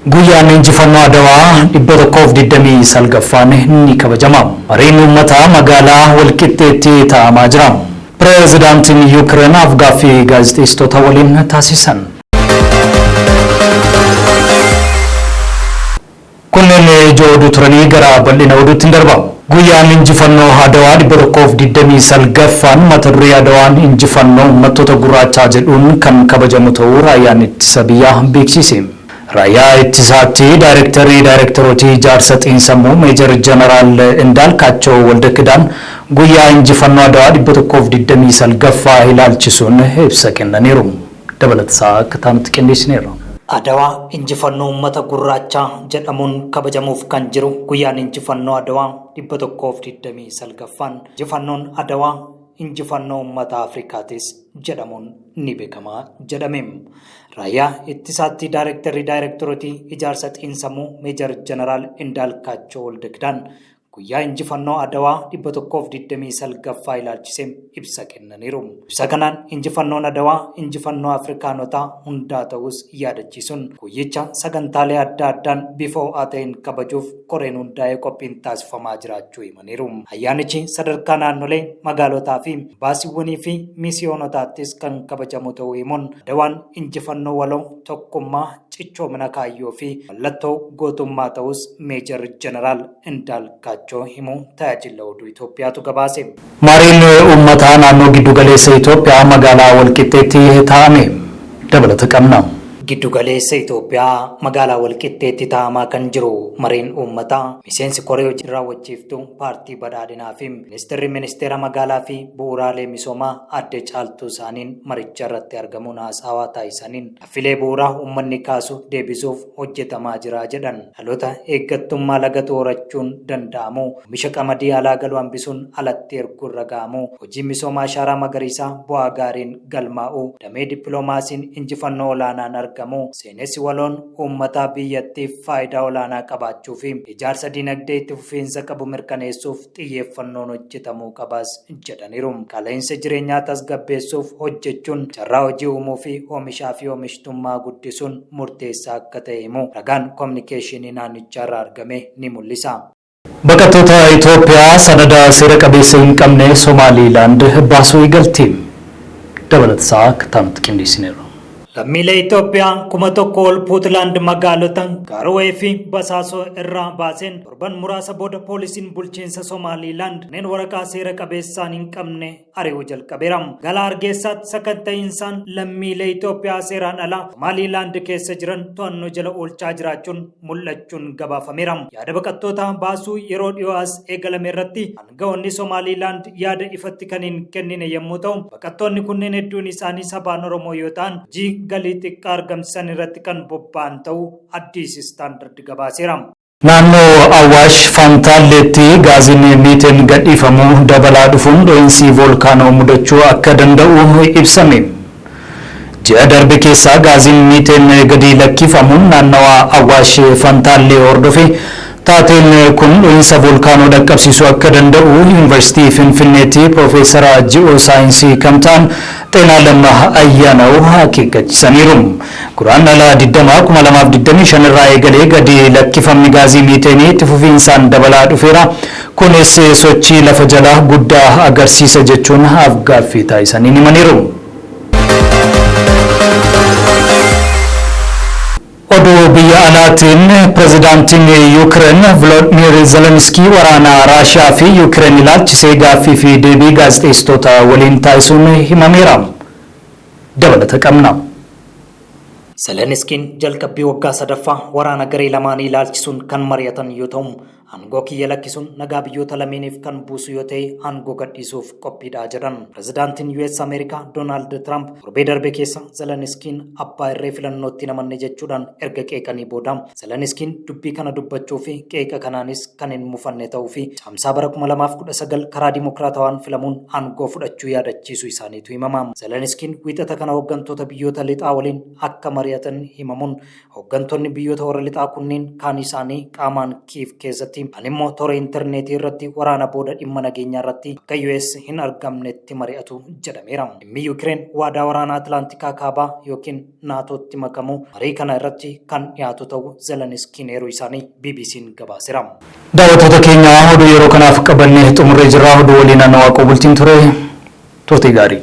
Guyyaan Injifannoo Adawaa 129ffaan ni kabajama. Mariin Uummataa Magaalaa Walqixxeetti taa'amaa jira. Pireezidaantiin Yuukireen af-gaaffii gaazexeessitoota waliin taasisan. Kunneen ijoo oduu turanii gara bal'ina oduutti ni darba. Guyyaan Injifannoo Adawaa 129ffaan mata duree Adawaan Injifannoo Uummattoota Gurraachaa jedhuun kan kabajamu ta'uu Raayyaan Ittisa Biyyaa beeksiise. Raayyaa Ittisaatti Daayrektarri Daayrektarootii Ijaarsa Xiinsammuu Meejar Janaraal Indaalkaachoo Waldakidaan guyyaa Injifannoo Adwaa 129ffaa ilaalchisuun ibsa kennaniiru. Dabalata isaa akka itti aanutti qindeessineerra. Adwaa Injifannoo Uummata Gurraachaa jedhamuun kabajamuuf kan jiru guyyaan Injifannoo Adwaa 129ffaan Injifannoon Adwaa injifannoo ummata Afrikaatis jedhamuun ni beekama jedhame. Raayyaa ittisaatti daayirektarri daayirektorotii ijaarsa xiinsammuu Meejar Jeneraal Indaalkaachoo Waldakidaan guyyaa injifannoo Adawaa 129ffaa ilaalchisee ibsa kennaniiru. Ibsa kanaan injifannoon Adawaa injifannoo Afrikaanotaa hundaa ta'uus yaadachiisuun guyyicha sagantaalee adda addaan bifa ho'aa ta'een kabajuuf koreen hundaa'ee qophiin taasifamaa jiraachuu himan. himaniiru. Ayyaanichi sadarkaa naannolee, magaalotaa fi baasiiwwanii fi miisiyoonotaattis kan kabajamu ta'uu himuun Adawaan injifannoo waloo, tokkummaa, cichoomina kaayyoo fi mallattoo gootummaa ta'uus Meejar Jeneraal Indaalkaachoo himuu Tajaajilla Oduu Itoophiyaatu gabaase. Mariin Uummataa Naannoo Giddugaleessa Itoophiyaa Magaalaa Walqixxeetti taa'ame. Dabalata qabna. Giddu galeessa Itoophiyaa magaalaa Walqixxeetti taa'amaa kan jiru mariin uummataa miseensi koree hojii raawwachiiftuu paartii badhaadhinaa fi ministeerri ministeera magaalaa fi bu'uuraalee misoomaa adde caaltuu isaaniin maricha irratti argamuun haasaawaa taasisaniin affilee bu'uuraa uummanni kaasu deebisuuf hojjetamaa jira jedhan dhaloota eeggattummaa lagatu horachuun danda'amu oomisha qamadii alaa galu hambisuun alatti erguun raga'amu hojii misooma ashaaraa magariisaa bu'aa gaariin galmaa'uu, damee dippilomaasiin injifannoo olaanaan argamuu, seenessi waloon uummataa biyyattiif faayidaa olaanaa qabaachuu fi ijaarsa dinagdee itti fufiinsa qabu mirkaneessuuf xiyyeeffannoon hojjetamuu qabas jedhaniiru. Qaala'insa jireenyaa tasgabbeessuuf hojjechuun carraa hojii uumuu fi oomishaa fi oomishtummaa guddisuun murteessaa akka ta'e himuu ragaan Kominikeeshinii naannichaarraa argame ni mul'isa. Baqattoota Itoophiyaa sanada seera qabeessa hin qabne Somaaliilaand baasuu eegalti. Dabalata isaa akka itti aanutti qindeessineerra. Lammiilee Itoophiyaa kuma tokko ol Puutlaand magaalota Gaarowee fi Basaasoo irraa baaseen torban muraasa booda poolisiin bulchiinsa Somaaliilaand kanneen waraqaa seera qabeessaan hin qabne ari'uu jalqabeera. Gala Hargeessaatti sakatta'iinsaan lammiilee Itoophiyaa seeraan alaa Somaaliilaand keessa jiran to'annoo jala oolchaa jiraachuun mul'achuun gabaafameera. Yaada baqattootaa baasuu yeroo dhiyoo as eegalame irratti aanga'oonni Somaaliilaand yaada ifatti kan hin kennine yommuu ta'u, baqattoonni kunneen hedduun isaanii sabaan Oromoo yoo ta'an hojii galii xiqqaa argamsiisan irratti kan bobba'an ta'uu Addis Standard gabaaseera. Naannoo Awaash Fantaalleetti gaaziin Miiteen gadhiifamu dabalaa dhufuun dhohiinsi voolkaanoo mudachuu akka danda'u ibsame. Ji'a darbe keessa gaaziin Miiteen gadi lakkiifamuun naannawaa Awaash Fantaallee hordofe. Taateen kun dhohiinsa voolkaanoo dhaqqabsiisuu akka danda'u Yuunivarsiitii Finfinneetti Piroofeesara Ji'oosaayinsii kan ta'an Xeenaalam Ayyaanaw akeekkachisaniiru. Guraandhala 20, 2025 irraa eegalee gadi lakkifamni gaazii miiteenii itti fufiinsaan dabalaa dhufeera, kunis sochii lafa jalaa guddaa agarsiisa jechuun af-gaaffii taasisaniin himaniiru. Oduu biyya alaatiin, Pirezidaantiin Yuukireen Viloodmiir Zeleniskii waraana Raashiyaa fi Yuukireen ilaalchisee gaaffii fi deebii gaazexeessitoota waliin taasisuun himameera. dabalata qabna. Zeleniskiin jalqabbii waggaa sadaffaa waraana garee lamaanii ilaalchisuun kan mari'atan yoo ta'u, aangoo kiyya lakkisuun nagaa biyyoota lameeniif kan buusu yoo ta'e aangoo gadhiisuuf qophiidha jedhan. Pirezidaantiin US Ameerikaa Doonaald Tiraamp torbee darbe keessa Zeleniskiin abbaa irree filannootti hin amanne jechuudhaan erga qeeqanii booda Zeleniskiin dubbii kana dubbachuu fi qeeqa kanaanis kan hin mufanne ta'uu fi Caamsaa bara 2019 karaa dimokiraatawaan filamuun aangoo fudhachuu yaadachiisuu isaaniitu himama. Zeleniskiin Wiixata kana hoggantoota biyyoota lixaa waliin akka mari'atan himamuun, hoggantoonni biyyoota warra lixaa kunniin kaan isaanii qaamaan Kiiv keessatti, kaan immoo toora interneetii irratti waraana booda dhimma nageenyaa irratti bakka US hin argamnetti mari'atu jedhameera. Dhimmi Yukireen waadaa waraanaa Atilaantikaa Kaabaa ykn. NATOtti makamu marii kana irratti kan dhiyaatu ta'u Zeleniskiin eeruu isaanii BBC'n gabaasera. Daawwattoota keenya oduu yeroo kanaaf qabanne xumurree jirra. Oduu waliin Anna Waaqoo Bultiin ture. Turtii gaarii.